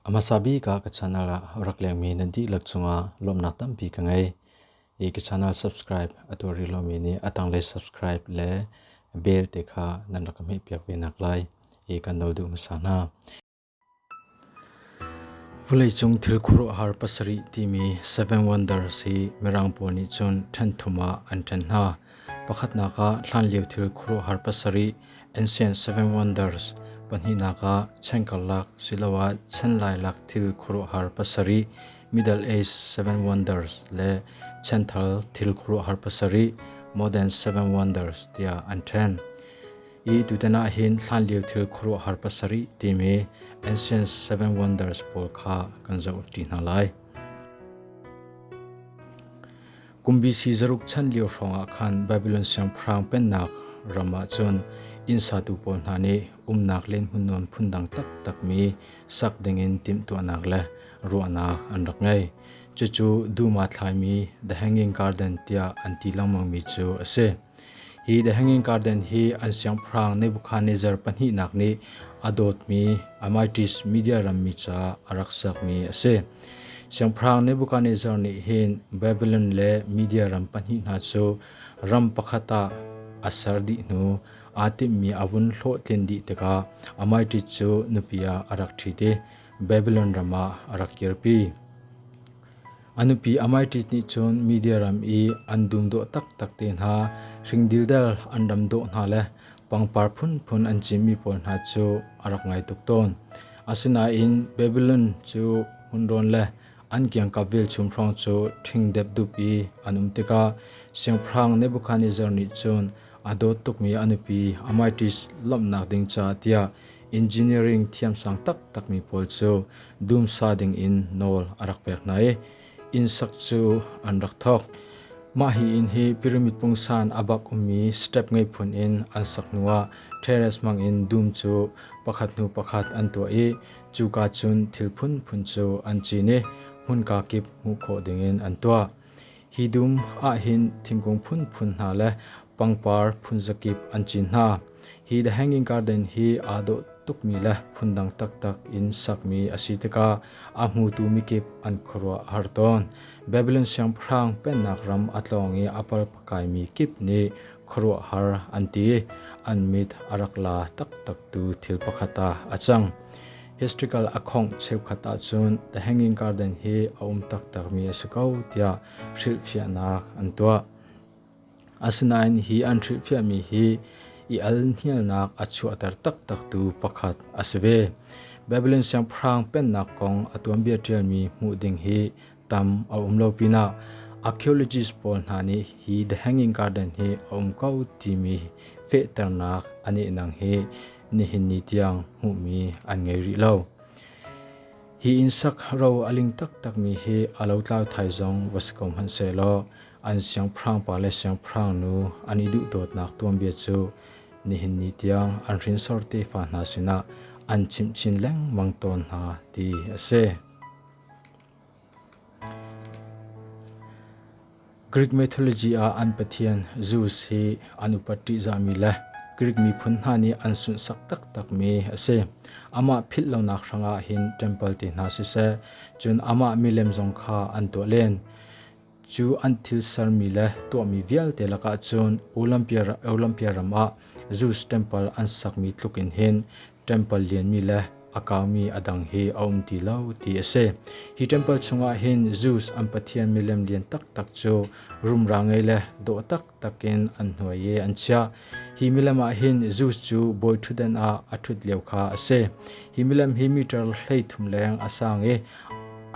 A hmasa bik ah ka channel ah rak lengmi nan dihlak cungah lawmhnak tampi ka ngei. I ka channel subscribe a tuar rih lomi nih a tanglei subscribe le bell te kha nan rak ka hmehpiak ve nak lai i kan nol duh hmasa hna. Vuleicung thil khuaruahhar pasarih timi Seven Wonders hi Mirang pawl nih cun ṭhenthum ah an ṭhen hna. Pakhatnak ah hlanlio thil khuaruahhar pasarih Ancient Seven Wonders, pahnihnak ah chan karlak siloah chan lailak thil khuaruahhar pasarih Middle Age Seven Wonders le chanthar thil khuaruahhar pasarih Modern Seven Wonders tiah an ṭhen. i tutan ah hin hlanlio thil khuaruahhar pasarih timi Ancient Seven Wonders pawl kha kan zoh ṭi hna lai. Kum BC zaruk chan lio hrawngah khan Babylon siangpahrang pennak ram ah cun innsatu pawl hna nih umnak len hmun nuam phundang taktakmi sak dingin timhtuahnak le ruahnak an rak ngei. Cucu duma thlaimi The Hanging Garden tiah an ti lengmangmi cu a si. Hi The Hanging Garden hi an siangpahrang Nebuchadnezzar pahnihnak nih a dawtmi Amitris media rammi ca a rak sakmi a si. Siangpahrang Nebuchadnezzar nih hin Babylon le media ram pahnih hna cu ram pakhat ah a ser dih hnu aa timhmi a vun hlawhtlin dih tikah Amitris cu nupi ah a rak ṭhit i Babylon ram ah a rak kirpi. A nupi Amaiṭis nih cun Media ram i an dum dawh taktak te hna, hringdildel an ram dawh hna le pangpar phunphun an cimmi pawl hna cu a rak ngai tuk tawn. Asinain Babilon cu hmunrawn le an kiangkap velchum hrawng cu ṭhingdep dup i an um tikah Siangpahrang Nebukhadnezzar nih cun a dawt tukmi a nupi Amaiṭis lawmhnak ding caah tiah engineering thiamsang taktakmi pawl cu dumsa dingin nawl a rak pek hna i innsak cu an rak thawk. Mah hi inn hi pyramid pungsan a bak ummi step ngei phun in an sak hnuah terrace hmangin dum cu pakhat hnu pakhat an tuah i cuka cun thil phunphun cu an cin i hmunka kip hmuh khawh dingin an tuah. Hi dum ahhin thingkung phunphun hna le pangpar phunzakip an cin hna. Hi The Hanging Garden hi aa dawh tukmi le phundang taktak in sakmi a si tikah a hmutu mikip an khuaruah a har tawn. Babylon Siangpahrang pennak ram a tlawng i a palpakaimi kip nih khuaruahhar an ti. An mit a rak la taktaktu thil pakhat ah a cang. Historical a khongh cheukhat ahcun The Hanging Garden hi a um taktakmi a si ko tiah hrilhfiahnak an tuah. Asinain hi an hrilhfiahmi hi i alhnialnak a chuahter taktaktu pakhat a si ve. Babylon siangpahrang pennak kong a tuanbia ṭialmi hmuh ding hi tam a um lo pinah archaeologist pawl hna nih hi The Hanging Garden hi a um ko timi fehternak an ihnang hi nihin ni tiang hmuhmi an ngei rih lo. Hi insak ro a ling taktakmi hi a lo tlau thai zong va si ko hmanh se law an siangpahrang pa le siangpahrang nu an i duh dawtnak tuanbia cu nihin ni tiang an hrinsor tefa hna sinah an chimh chin lengmang tawn hna ti a si. Grik mythology ah an pathian Zeus hi an upat ṭihzahmi le Grik miphun hna nih an sunsak taktakmi a si. Amah philh lonak hrangah hin ṭempal ti hna siseh, cun amah milem zong kha an tuah len. Cu an thil sermi le tuahmi vialte lakah cun Olympia ram ah Zeus temple an sakmi tluk in hin temple lianmi le a kaumi a dang hi a um ti lo ti a si. Hi temple chungah hin Zeus an pathian milem lian taktak cu rumra ngei le dawh tak takin an hnuai i an chiah. Hi milem ah hin Zeus cu bawi ṭhutdan ah a ṭhut lio kha a si. Hi milem hi meter hleithum leng a sang i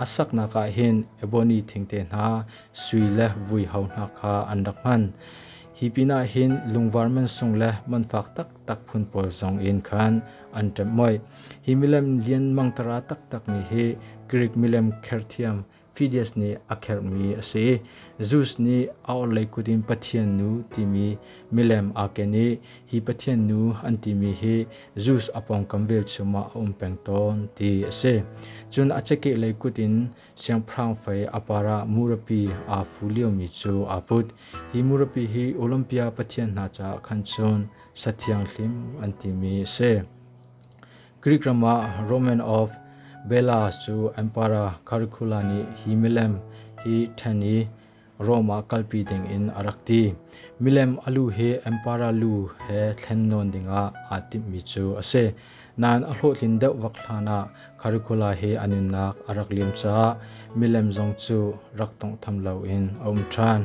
a saknak ah hin ebony thingte hna, sui le vuiho hna kha an rak hman. Hi pinah hin lungvar mansung le manfak taktak phun pawl zong in khan an ṭemh moih. Hi milem lianmang tara taktakmi hi Greek milem kherthiam Phidias nih a kherhmi a si. Zeus nih a orhlei kut in Pathian nu timi milem aa ken i hi Pathian nu an timi hi Zeus a pawngkam velchum ah a um peng tawn ti a si. Cun a cakehlei kut in siangpahrang fei a par ah murapi aa fu liomi cu aa put. Hi murapi hi Olympia pathian hna caah khan cun sathianghlim an timi a si. Grik ram ah Roman of Bellas cu an para Curricula nih hi milem hi ṭhen i Rom ah kalpi dingin a rak ti. Milem a lu hi an para lu he thlen nawn dingah aa timhmi cu a si. Nain a hlawhtlin deuh vak hlanah Curricula hi a nunnak a rak liam caah milem zong cu rak tawnghtham loin a um ṭhan.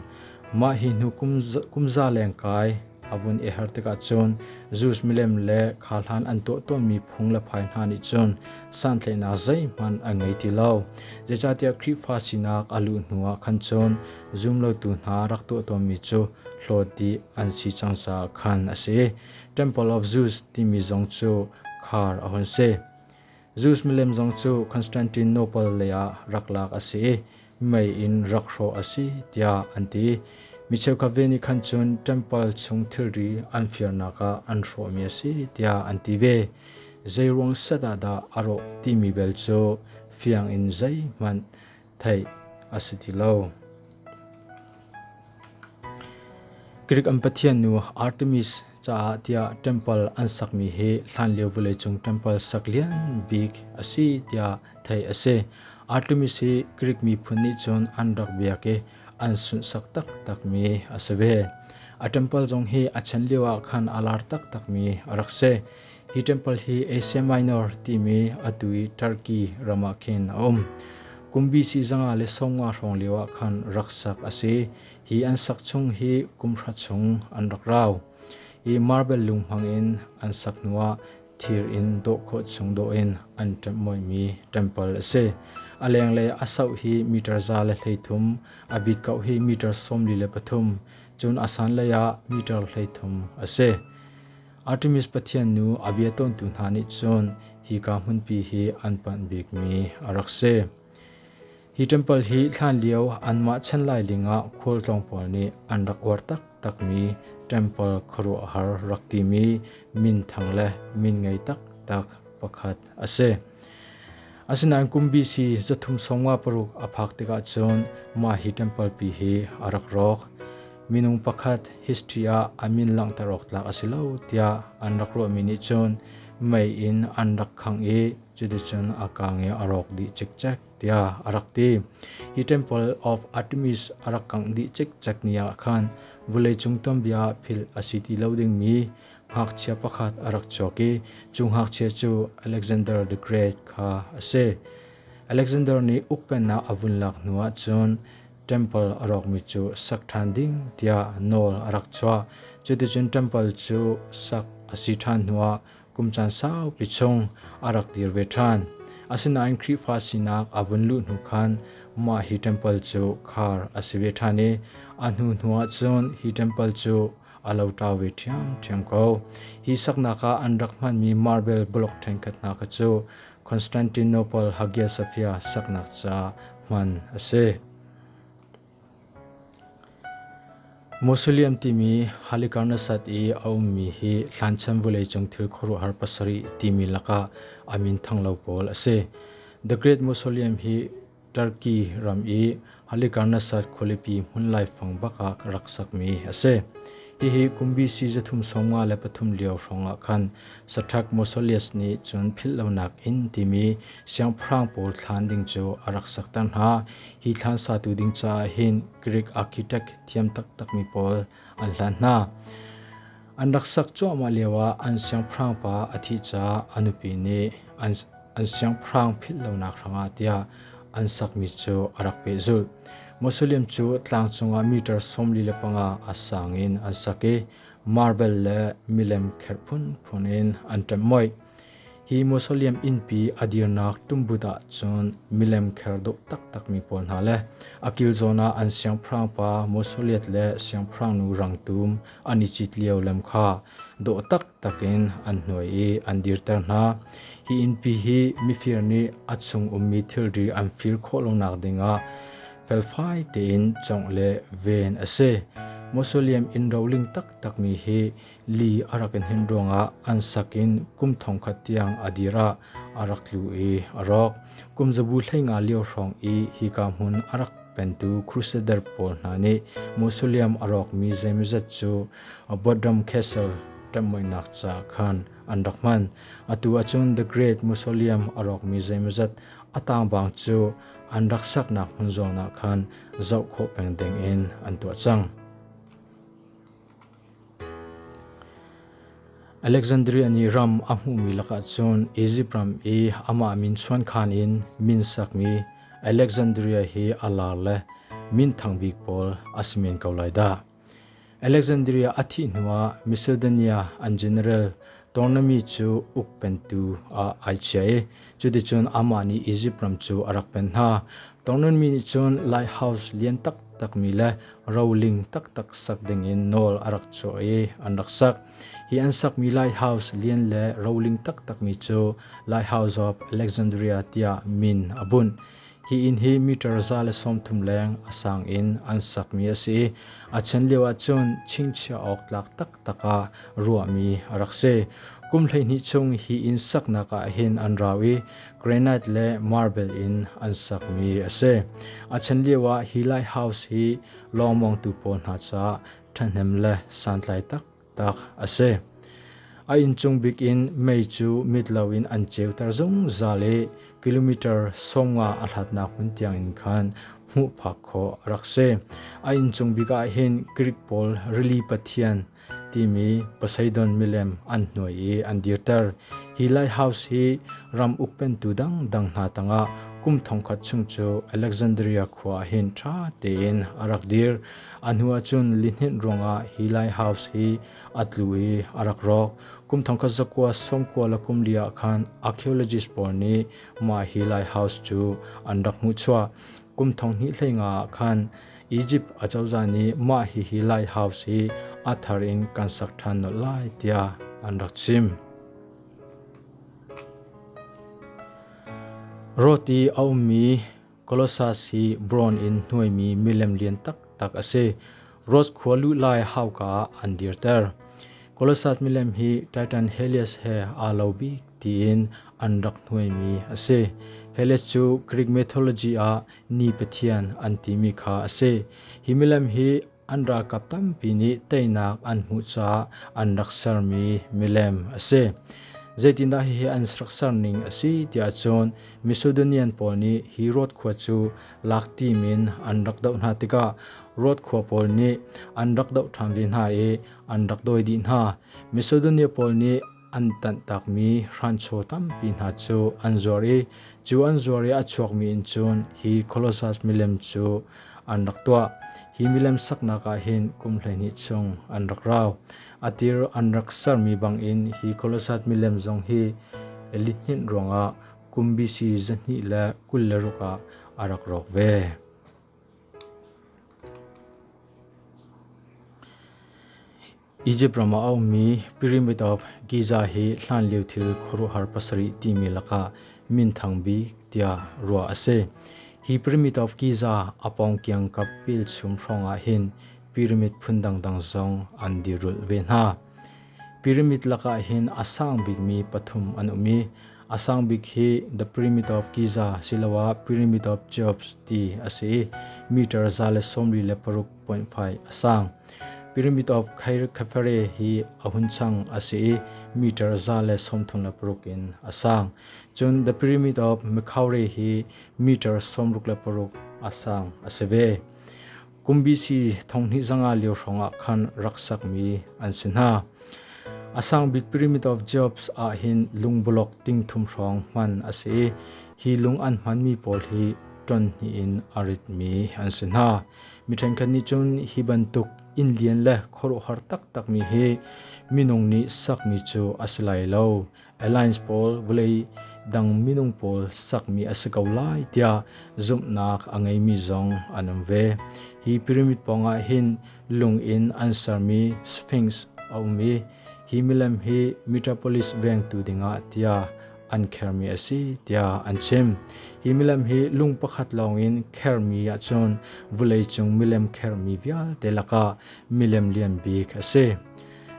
Mah hi hnu kum za leng kai A vun i her tikah cun Jews milem le kha hlan an tuahtuahmi phung le phai hna nih cun santlaihnak zeihmanh an ngei ti lo. Zeicahtiah Khrihfa sinak a luh hnuah khan cun zumlotu hna rak tuahtuahmi cu hlawti an si cang caah khan a si. Temple of Jews timi zong cu khar a hun si. Zeus milem zong cu Constantino pawl leiah rak lak a si i mei in rak hrawh a si tiah an ti. Mi cheukhat ve nih khan cun ṭempal chung thilri an firnak ah an hrawhmi a si tiah an ti ve. Zeiruang set ah dah a rawh timi bel cu fiang in zeihmanh theih a si ti lo. Greek an pathian nu Artemis caah tiah temple an sakmi hi hlanlio vawleicung temple sak lian bik a si tiah theih a si. Artemis hi Greek miphun nih cun an rak biak i an sunsak taktakmi a si ve. A temple zong hi a chan lio ah khan a lar taktakmi a rak si. Hi ṭempal hi Asia Minor timi atu i Turkey ram ah khin a um. Kum BC zanga le sawmnga hrawng lio ah khan rak sak a si. Hi an sak chung hi kum hra chung an rak rau. Hi marble lung hmang in an sak hnu ah thir in dawh khawh chung dawh in an ṭemhmoimi ṭempal a si. A lenglei a sauh hi meter za le hleithum, a bit kauh hi meter sawmli le pathum, cun a san lei ah meter hleithum a si. Artemis pathian nu a bia tawntu hna nih cun hika hmunpi hi an panh bikmi a rak si. Hi ṭempal hi hlanlio anmah chan lai lingah khualtlawng pawl nih an rak uar taktakmi ṭempal khuaruahhar rak timi minthang le min ngei taktak pakhat a si. Asinain kum BC zathum sawmnga paruk a phak tikah cun mah hi ṭempal pi hi a rak rawk. minung pakhat history ah a min langhter awk tlak a si lo tiah an rak ruahmi nih cun mei in an rak khang i cuticun a kang i a rawk dih cikcek tiah a rak ti. Hi Temple of Artemis a rak kangh dih cikcek ni ah khan vawleicung tuanbia ah philh a si ti lo dingmi ngakchia pakhat a rak chuak i cu ngakchia cu Alexander the Great kha a si. Alexander nih ukpennak a vun lak hnu ah cun Temple a rawkmi cu sak ṭhan ding tiah nawl a rak chuah. Cuticun temple cu sak a si ṭhan hnuah kum caan saupi chung a rak dir ve ṭhan. Asinain Khrihfa sinak a vun luh hnu khan mah hi temple cu khar a si ve ṭhan i a hnu hnuah cun hi temple cu a lo ṭa ve ṭhiamṭhiam ko. Hi saknak ah an rak hmanmi marble bulok ṭhenkhat hna kha cu Constantinople Hagia Sophia saknak caah hman a si. Mausoleum timi Halicarnasat i a ummi hi hlanchan vuleicung thil khuaruahhar pasarih timi lakah a min thanglo pawl a si. The Great Mausoleum hi Turkey ram i Halikarnasad khualipi hmun laifang bak ah rak sakmi a si. Hihi kum BC zathum sawm nga le pathum lio hrawngah khan saṭhak Mausoleus nih cun philh lonak in timi siangpahrang pawl thlan ding cu a rak sakter hna. Hi thlan satu ding caah hin Greek architect thiam taktakmi pawl an hlan hna. An rak sak cuahmah lioah an siangpahrang pa a thih caah a nupi nih an an siangpahrang philh lonak hrangah tiah an sakmi cu a rak pehzulh. Muslim cu tlang cungah meter sawmli le panga a sang in an sak i marble le milem kherh phunphun in an ṭemh moih. Hi Muslim innpi a dirnak tumbut ah cun milem kher dawh taktakmi pawl hna le a kilzawn ah an siangpahrang pa Musliat le siangpahrangnu rangtum an i cit lio lem kha dawh tak takin an hnuai i an dirter hna. Hi innpi hi mifir nih a chung ummi thilri an fir khawh lonak dingah felfai tein congh le ven a si. Mausoleum in roling taktakmi hi li a rak in hin ruangah an sakin kum thongkhat tiang a dira a rak tlu i a rawk. Kum zabu thlenga lio hrawng i hi ka hmun a rak pentu Crusader pawl hna nih mausoleum a rawkmi zeimazat cu Bodram Castle ṭanhmoinak ca khan an rak hman. Atu ahcun The Great Mausoleum a rawkmi zeimawzat a tangbaang cu an rak saknak hmun zong ah khan zoh khawh peng ding in an tuah cang. Alexandria nih ram a hmuhmi lakah cun Izipt ram i amah min chuankhan in min sakmi Alexandria hi a lar le minthang bik pawl a si men ko lai dah. Alexandria a thih hnuah Macedonia an general Ptolemy cu uk pentu ah ai chia i cuticun amah nih Izipt ram cu a rak pen hna. Ptolemy nih cun lighthouse lian taktakmi le roling taktak sak dingin nawl a rak chuah i an rak sak. Hi an sakmi lighthouse lian le roling taktakmi cu Lighthouse of Alexandria tiah min a bunh. Hi inn hi meter za le sawmthum leng a sang in an sakmi a si i a chan lio ahcun chingchiah awk tlak taktak ah ruahmi a rak si. Kum hleihnih chung hi inn saknak ah hin an rau i granite le marble in an sakmi a si. A chan lio ah hi lighthouse hi lawng mawngtu pawl hna caah ṭhahnem le santlai tak tak a si. A inncung bik in mei cu mit loin an ceuter zungzal i kilometer sawmnga a hlatnak hmun tiangin khan hmuh phak khawh a rak si. A inncung bik ah hin Grik pawl rili pathian timi Poseidon milem an hnuai i an dirter. Hi lighthouse hi ram ukpentu dangdang hna tangah kum thongkhat chung cu Alexandria khua ah hin ṭha tein a rak dir. A hnu ahcun lihninh ruangah hi lighthouse hi a tlu i a rak rawk. Kum thongkhat zakua sawmkua le kum li ah khan archaeologist pawl nih mah hi lighthouse cu an rak hmuh chuah. Kum thong hnih hlei nga ah khan Egypt acozah nih mah hihi lighthouse hi a thar in kan sak ṭhan nolh lai tiah an rak chim. Rawt i a ummi Kolossas hi bronze in hnuaimi milem lian taktak a si. Rhodes khua luhlai hauka ah an dirter. Kolossas milem hi Titan Helios he aa lo bik tiin an rak hnuaimi a si. Helios cu Greek mythology ah ni pathian an timi kha a si. Hi milem hi An ralkap tampi nih teinak an hmuh caah an rak sermi milem a si. Zeitindah hihi an rak serning a si tiah cun Macedonian pawl nih hi Rhodes khua cu lak tim in an rak doh hna tikah Rhodes khua pawl nih an rak doh ṭhan ve hna i an rak dawi dih hna. Macedonia pawl nih an tanhtakmi hranchaw tampi hna cu an zuar i cu an zuar i a chuakmi in cun hi Colossus milem cu an rak tuah. Hi milem saknak ah hin kum hleihnih chung an rak rau. A tir an rak sermi bangin hi Colossus milem zong hi elihhninh ruangah kum BC zahnih le kul le ruk ah a rak rawk ve. Izipt ram ah a ummi Pyramid of Giza hi hlanlio thil khuaruahhar pasarih timi lakah minthang bik tiah ruah a si. Hi Pyramid of Giza a pawng kiangkap velchum hrawngah hin pyramid phun dangdang zong an dirulh ve hna. Pyramid lakah hin a sang bikmi pathum an um i a sang bik hi The Pyramid of Giza siloah Pyramid of Cheops ti a si i meter za le sawmri le paruk 0.5 a sang. Pyramid of Khairkhafare hi a hun chang a si i meter za le sawmthum le paruk in a sang. Cun The Pyramid of Makhaure hi meter sawmruk le paruk a sang a si ve. Kum BC thonghni zanga lio hrongah khan raksak mi an si hna. A sang bik Pyramid of Jobs ah hin lung bulok ting thum hrong hman a si i hi lung an hman mi pawl hi ton hni in a rit mi an si hna. Mi ṭhenkhat nih cun hi bantuk inn lian le khuaruahhar taktakmi hi minung nih sakmi cu a si lai lo. Alliance pawl vawlei dang minung pawl sakmi a si ko lai tiah zumhnak a ngeimi zong an um ve. Hi pyramid pawngah hin lung in an sermi sphinx a um i hi milem hi Metropolis vengtu dingah tiah an khermi a si tiah an chim. Hi milem hi lung pakhat lawngin khermi ahcun vawleicung milem khermi vialte lakah milem lian bik a si.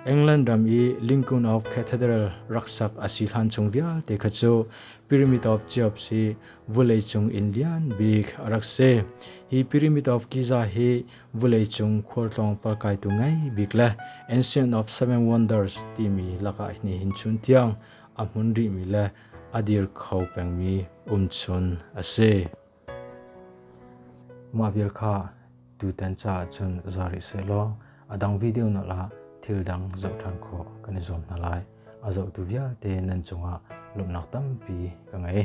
England ram i Lincoln of Cathedral raksak a si hlan chung vialte kha cu Pyramid of Cheops hi vawleicung in lian bik a rak si. Hi Pyramid of Giza hi vawleicung khualtlawng palkaitu ngei bik le Ancient of Seven Wonders timi lakah nihin chun tiang a hmun rihmi le a dir kho pengmi umchun a si. Mah vial kha tutan caah cun za rih sehlaw a dang video na la thil dang zoh ṭhan khawh kan i zuam hna lai. A zohtu vialte nan cungah lawmhnak tampi ka ngei.